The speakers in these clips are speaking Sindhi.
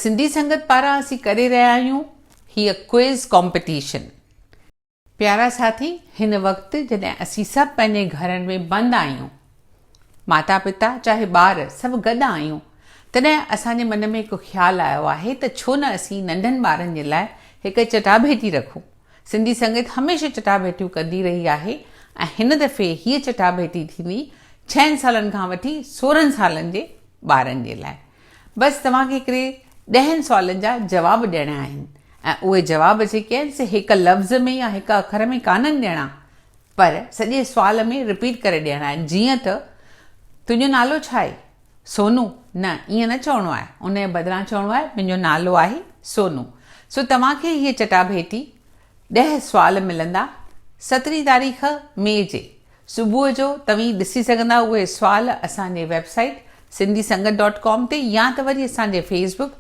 سنڌي سنگت پاران اسين ڪري رهيا آهيون هيء ڪوئز ڪامپيٽيشن. پيارا ساٿي هن وقت جڏهن اسين سڀ پنهنجي گهرن ۾ بند آهيون ماتا پتا چاهي ٻار سڀ گڏ آهيون. تڏهن اسان جي من ۾ هڪ خيال آيو آهي ته ڇو نه اسين ننڍن ٻارن جي لاء هڪ چٽاڀيٽي رکون. سنڌي سنگت هميشه چٽاڀيٽيون ڪندي رهي آهي ۽ هن دفعي هيء چٽاڀيٽي ٿيندي ڇهن سالن کان وٺي سورهن سالن جي ٻارن جي لاء. بس توهان کي هڪڙي ڏهن سوالن جا جواب ڏيڻا آهن ۽ اهي جواب جيڪي آهن سي هڪ لفظ ۾ يا هڪ اکر ۾ ڪانهن ڏيڻا. پر سڄي سوال ۾ رپيٽ ڪري ڏيڻ آهي جيئن ته، تنهنجو نالو ڇا آهي؟ سونو، نه ائين نه چوڻو آهي، انهيء بدران چوڻو آهي، منهنجو نالو آهي سونو. سو توهان کي هيء چٽاڀيٽي، ڏهه سوال ملندا، سترهين تاريخ مئي جي صبح جو توهين ڏسي سگهندا اهي سوال اسان جي website Sindhi Sangat dot com تي يا ته وري اسان جي Facebook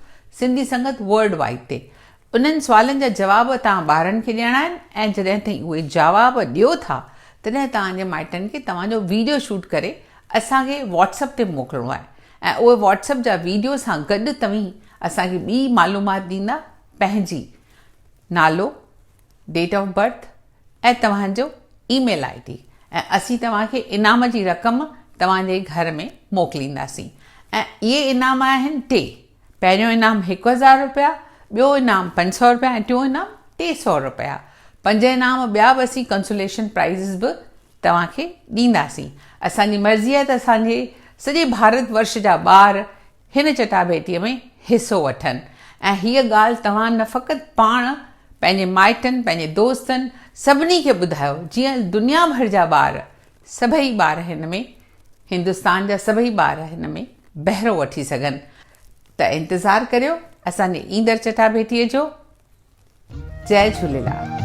Sindhi Sangat world wide تي انهن سوالن جا جواب توهان ٻارن کي ڏيڻا آهن ۽ جڏهن توهين اهي جاواب ڏيو ٿا تڏهن توهان جي مائٽن کي توهان جو ويڊيو شوٽ ڪري اسان کي واٽس اپ تي موڪلڻو آهي ۽ اهي واٽس اپ جا ويڊيو سان گڏ توهين اسان کي ٻي معلومات ڏيندا پنهنجي نالو ڊيٽ آف برٿ ۽ توهان جو اي ميل آئي ڊي ۽ اسين توهان کي انعام جي رقم توهان جي گهر ۾ موڪلينداسين ۽ اهي انعام آهن ٽي پهريون انعام هڪ هزار رپيا، ٻيو انعام پنج سؤ رپيا ۽ ٽيون انعام ٽي سؤ رپيا. پنج انعام ٻيا به اسين ڪنسوليشن پرائيزز به توهان کي ڏينداسين. اسان جي مرضي آهي ته اسان جي سڄي ڀارت ورش جا ٻار هن چٽاڀيٽيء ۾ حصو وٺن ۽ هيء ڳالهه توهان نه فقط پاڻ پنهنجي مائٽن، پنهنجي دوستن، سڀني کي ٻڌايو جيئن دنيا ڀر جا ٻار سڀئي ٻار هن ۾، هندستان جا سڀئي ٻار هن ۾ بهرو وٺي سگهن ته انتظار ڪريو اسان جي ايندڙ چٽاڀيٽي جو. جئي جهوليلال.